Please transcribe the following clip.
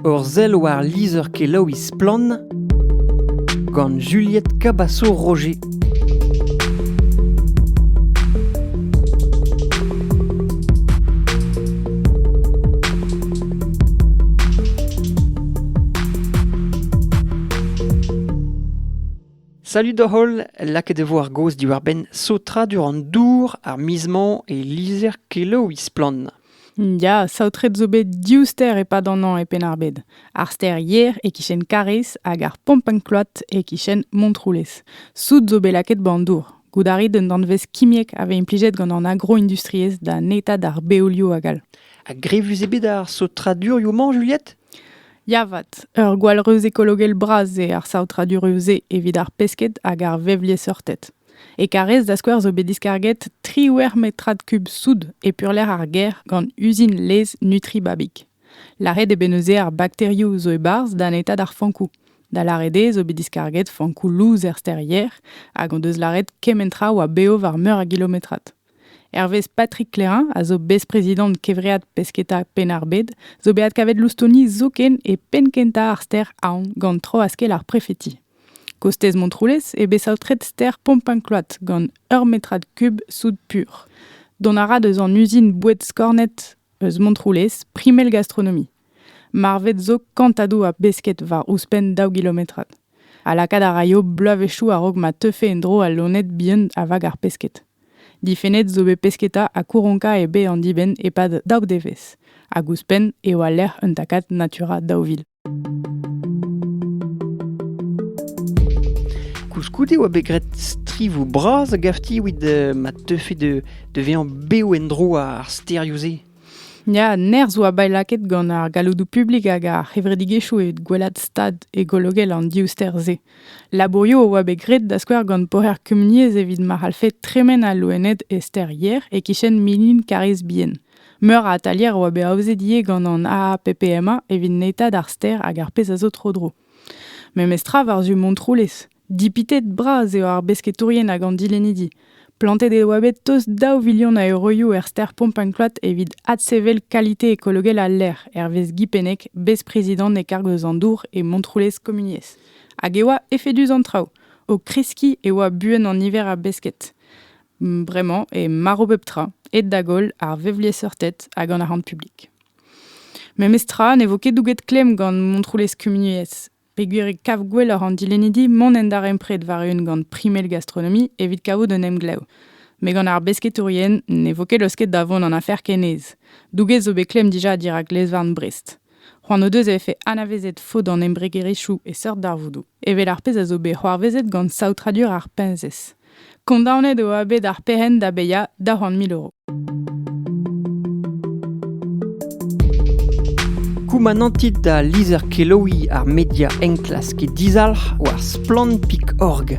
Ur sell war lizher-kelaouiñ Splann! gant Juliette Cabasso-Roger. Salut da holl, lakaet e vo ar gaoz diwar-benn saotradur an dour, ar miz-mañ e lizher-kelaouiñ Splann! Ya, saotret zo bet div stêr e-pad an hañv e Penn-ar-Bed. Ar stêr Yer e-kichen Kariz hag ar Pompenklot e-kichen Montroulez. Soud zo bet lakaet ba'n dour. Goût a rit d'un danvez kimiek a vez implijet gant an agroindustriezh da netañ d'ar beolioù hag all. Ha grevus eo bet ar saotradurioù-mañ, Juliette? Ya 'vat, ur gwall reuz ekologel bras eo ar saotradurioù-se evit ar pesked hag ar vevliesseurted. E Karrez, da skouer, zo bet diskarget triwec'h metrad kub soud e peurlec'h ar gêr gant uzin laezh Nutribabik. Lâret eo bet neuze ar bakterioù zo e-barzh da netaat ar fankoù. Da lâret eo zo bet diskarget fankoù louz er stêrier hag hon deus lâret kement tra oa bev war meur a gilometrad. Hervez Patrick Clairin, a zo bez-prezidant Kevread Pesketa Penn-ar-Bed, zo bet adkavet loustoni zoken e penn kentañ ar stêr Aon gant tro-askell ar prefeti. Kostez Montroulez eo bet saotret stêr Pompin-Cloître gant ur metrad kub soud pur. Dont a ra deus an uzin boued skornet eus Montroulez, primel gastronomi. Marvet zo kantadoù a besked war ouzhpenn daou gilometrad. Ha lakaat a raio bloavezhioù a-raok ma teufe en-dro al loened bihan a vag ar pesked. Difennet zo bet pesketa ha kouronka eo bet an dibenn e-pad daou devezh, hag ouzhpenn eo al lec'h un takad natura daou vil. Koulskoude oa bet graet strivoù bras a-gafti evit euh, ma teufe da vezañ bev en-dro ar stêrioù-se. Ya, nerzh oa bet lakaet gant ar galloudoù publik hag ar c'hevredigezhioù evit gwelat stad ekologel an div stêr-se. Labourioù oa bet graet da skouer gant poher kumuniezh evit ma c'hallfe tremen al loened e stêr Yer e-kichen Milin Karrez Bien. Meur a atalier a oa bet aozet ivez gant an AAPPMA evit netañ d'ar stêr hag ar pezh a zo tro-dro. Memestra war-zu Montroulez. Dipitet bras eo ar besketourien hag an dilennidi. Plantet e oa bet tost daou vilion a euroioù er stêr Pompancloud evit adsevel kalite ekologel al lec'h, hervez Guy Pennec, bez-prezidant e karg eus an dour e Montroulez Komuniezh. Hag e oa efedus an traoù. O kreskiñ e oa buan an niver a besked. Bremañ eo marv pep tra, aet da goll ar vevliesseurted hag an arc'hant publik. Memes tra ne vo ket douget klemm gant Montroulez Kumuniezh, peogwir e kav gwelloc'h an dilennidi mont en darempred war-eeun gant primel gastronomie evit kavout un emglev. Met gant ar besketourien ne vo ket laosket da vont an afer kenez. Douget zo bet klemm dija dirak lez-varn Brest. C'hoant o deus e vefe anavezet faot an embregerezhioù e seurt darvoudoù, evel ar pezh a zo bet c'hoarvezet gant saotradur ar peñsez. Kondaonet eo bet ar perc'henn da bezañ da c'hant mil euro. Koumanantit da lizher-kelaouiñ ar media enklask dizalc'h war splann.org.